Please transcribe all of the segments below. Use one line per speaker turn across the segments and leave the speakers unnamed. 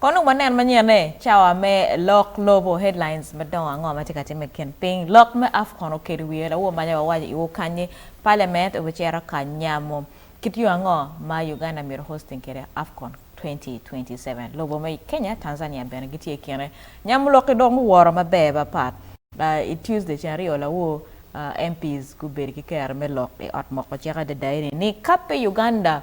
Kono wanen manyene, Cawa me lok lobo, Headlines madongo ango ma tye ka timme i kin piny? Lok me Afcon okedo wiye lawo manya wawaco iwu kanyi, Parliament obicito ka nyamo kit yo ango ma Uganda myero hosting kwede Afcon 2027. Lobo me Kenya, Tanzania bene gitye i kine. Nyamo lok-ki dong guworo maber bapat. I Tuesday ceng aryo lawo MPs gubedo ki kero me lok i ot moko cek adada eni ni, Kape Uganda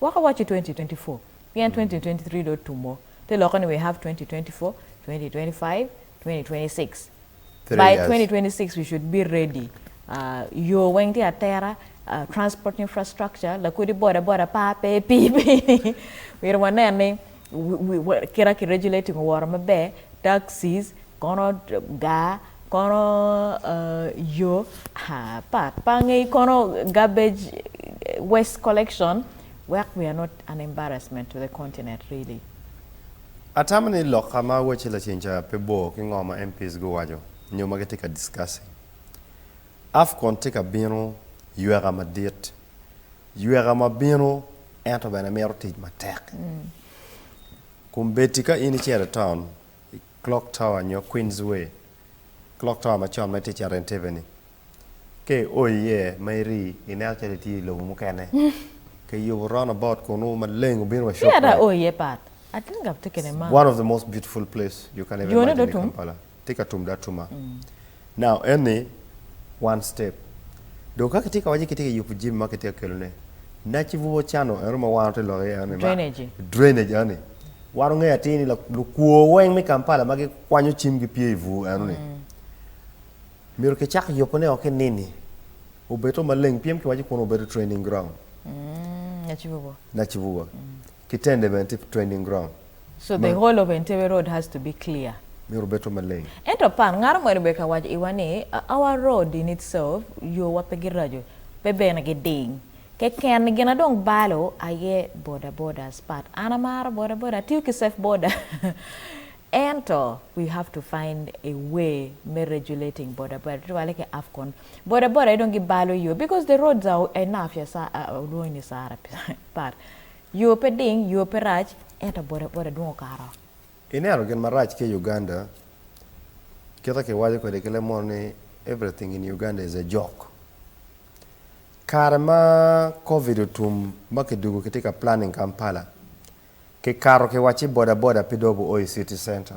Wek awaci 2024 pien 2023 dong otumo, te lokke ni we have 2024, 2025, 2026. Three By years. 2026 we should be ready, uh, yo weng tye atera, uh, transport infrastructure, lakodi boda boda pa pe, pii pe, myero wanen ni. kit ma ki regulating oworo maber taxis kono gar kono yo pe angeyo kono garbage waste collection wek we are not an embarrassment to the continent really. Atamo
ni lokka ma awacci lacen ca pe bor ki ngo ma MPs guwaco nyo ma gitye ka discussing. Afcon tye ka bino, yweka madit. Yweka ma bino ento bene mito tic matek. Kun bed-ti ka in icito i taun, i Clock Tower nyo Queens Way, Clock Tower ma con ma itye icito iye tebeni, ka io iye ma iri, ineno calo itye i lobo mukene. Kiyubo round about kunu maleng obino wa Shoprite.
One of the most beautiful
place you can ever imagine in Kampala. tye ka tum da tuma. Now eni one step dong ka kitye ka waco ni kitye ka yubu jami ma kitye ka kelo ne naci bubwo cano eno ma wan watye lok iye eno ni ma Drainage. drainage eno ni wan wungeyo atir ni lak lukwo weng me Kampala ma gikwanyo cim gi pye ibur eno ni myero kicak yubu ne o ki nini obed o maleng pien kiwaco kunu obedo training ground Naci bubwo. naci bubwo. Ki tende bene tye training ground. So the whole of
Entebbe road has to be clear? Myero obedo maleng.
Ento pan ngaro moni
bene ka waco iwa ni our road in itself yo wa pe giraco pe bene giding keken gina dong balo aye boda bodas but an amaro boda boda atiyo ki safe boda ento we have to find a way me regulating boda boda tutwale ki afcon boda boda aye dong gibalo yo because the roads are enough ya sa olwongo ni sara. pat. Yoo pe ding, yoo pe rac, ento boda boda dong okato. Ineno gin
marac ki Uganda, kite kiwaco kwede ki lemono ni everything in Uganda is a joke. Kare ma covid otum ma kidugo kitye ka planning Kampala, kikato kiwacci boda boda pe dong obi o i city center.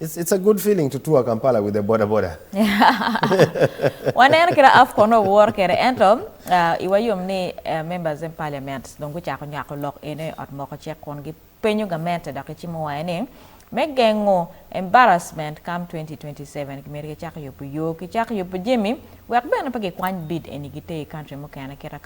It's, it's a good feeling to tour Kampala with a boda boda.
Waneno kit Afcon nongo wor kede ento uh, iwa yom ni uh, members in parliament dong gucako nywako lok eno i ot moko cek kun gipenyo gamente dok gicimo wange ni me gengo embarrassment come 2027 gimito gicak yubo yo ki cak yubo jemi wek bene pe gikwany bid eni giter i country mukene kit